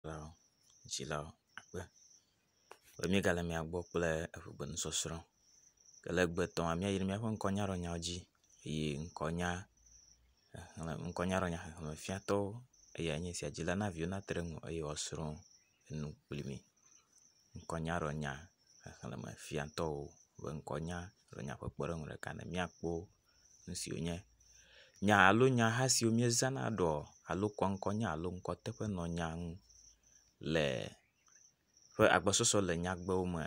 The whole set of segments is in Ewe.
Nyagblɔɖilawo, dzilawo akpe be míegale mia gbɔ kple eŋugbenusɔsrɔ̃. Ke le egbe etɔ̃a míayi ɖe míaƒe ŋkɔnyaɖɔnyawo dzi eye ŋkɔnya xexlẽ ŋkɔnyaɖɔnya xexlemefiatɔwo eyae nye esia. Dzila na viwo nate ɖe eŋu eye woasrɔ̃ enu kpli mi. Ŋkɔnyaɖɔnya xexlemefiatɔwo be ŋkɔnyaɖɔnya ƒe kpɔɖeŋu ɖeka ne míakpɔ wo. nusi wònye. Nya alo nyaha siwo míezãna ɖɔ alo kɔ ŋkɔ nya alo ŋkɔ teƒe nɔ nya ŋu le ƒe agbɔsɔsɔ le nyagbewo me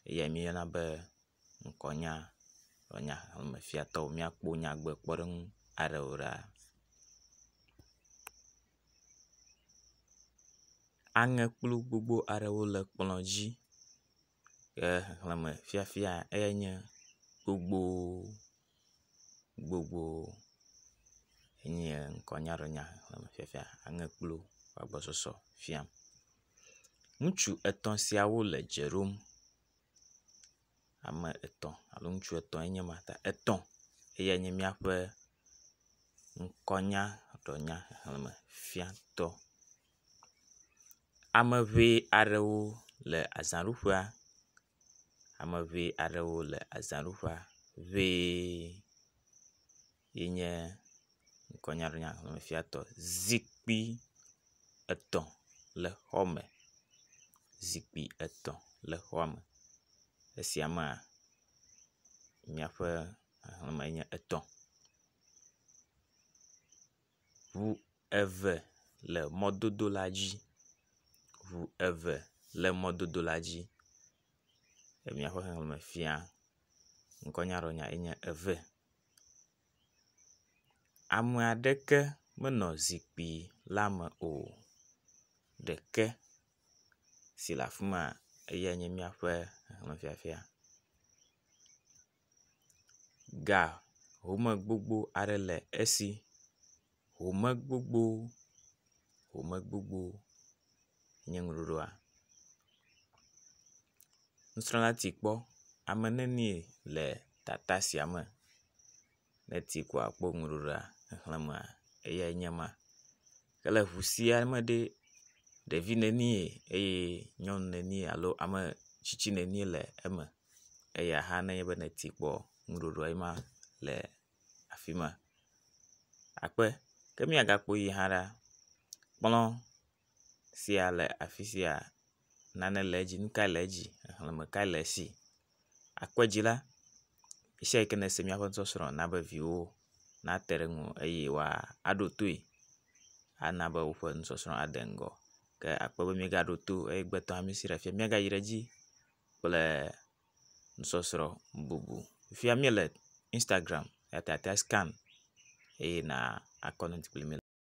eyae míeyɔna be ŋkɔnya. Nɔ nya xlẽ me fiatɔ míakpɔ nyagbe kpɔɖeŋu aɖe o ɖa. Aŋekplu gbogbo aɖewo le kplɔ dzi. ke xexleme fiafia eyae nye gbogbo gbogbo enye ŋkɔnyaɖenya xexleme fiafia aŋe kplu ƒe agbɔsɔsɔ fiam. Ŋutsu etɔ̃ siawo le dze ɖom. Ame etɔ̃ alo ŋutsu etɔ̃ enye ma ta etɔ̃ eyae nye miaƒe ŋkɔnyaɖenya xexleme fiatɔ. Ame ŋee aɖewo le azãɖuƒea. Ame ŋee aɖewo le azãɖuƒea ŋee yi nye ŋkɔnyaɖɔnya xlexlefiatɔ. Zikpui etɔ̃ le xɔ me. Zikpui etɔ̃ le xɔa me. Esia mea miaƒe xexleme enye etɔ̃. Ŋu eve le mɔdodo la dzi. Ŋu eve le mɔdodo la dzi. Emia ƒe xexleme fia ŋkɔnyaɖɔnya ye nye eve. Ame aɖeke menɔ zikpui la me o. Ɖeke si le afi ma eyae nye míaƒe xexleme fiafia. ga home gbogbo aɖe le esi, home gbogbo home gbogbo nye ŋuɖoɖoa, nusrɔ̃la ti kpɔ ame nenie le tata sia me, ne eti kpɔ akpɔ ŋuɖoɖoa xexlẽmea eyae nye ma. ke le ŋu sia me ɖe, ɖevi nenie eye nyɔnu nenie alo ame tsitsi nenie le eme eya hã nenye be nèti kpɔ nuɖɔɖɔa ye ma le afi ma akpe. Ke míagakpɔe hã la, kplɔ sia le afi sia. nane le edzi, nu kae le edzi, xexlẽme kae le esi. Akpe dzi la, esiawo ke nèse míaƒe nusɔsrɔ̃ na be viwò nate ɖe eŋu eye woaɖo toe ana be woƒe nusɔsrɔ̃ ade ŋgɔ. Ke akpe be míegaɖo to o eye gbetɔ mí si ɖe afia míagayi ɖe edzi kple nusɔsrɔ̃ bubu. Fifia míele Instagram eya ta àte ŋu ascan eye nàkɔ…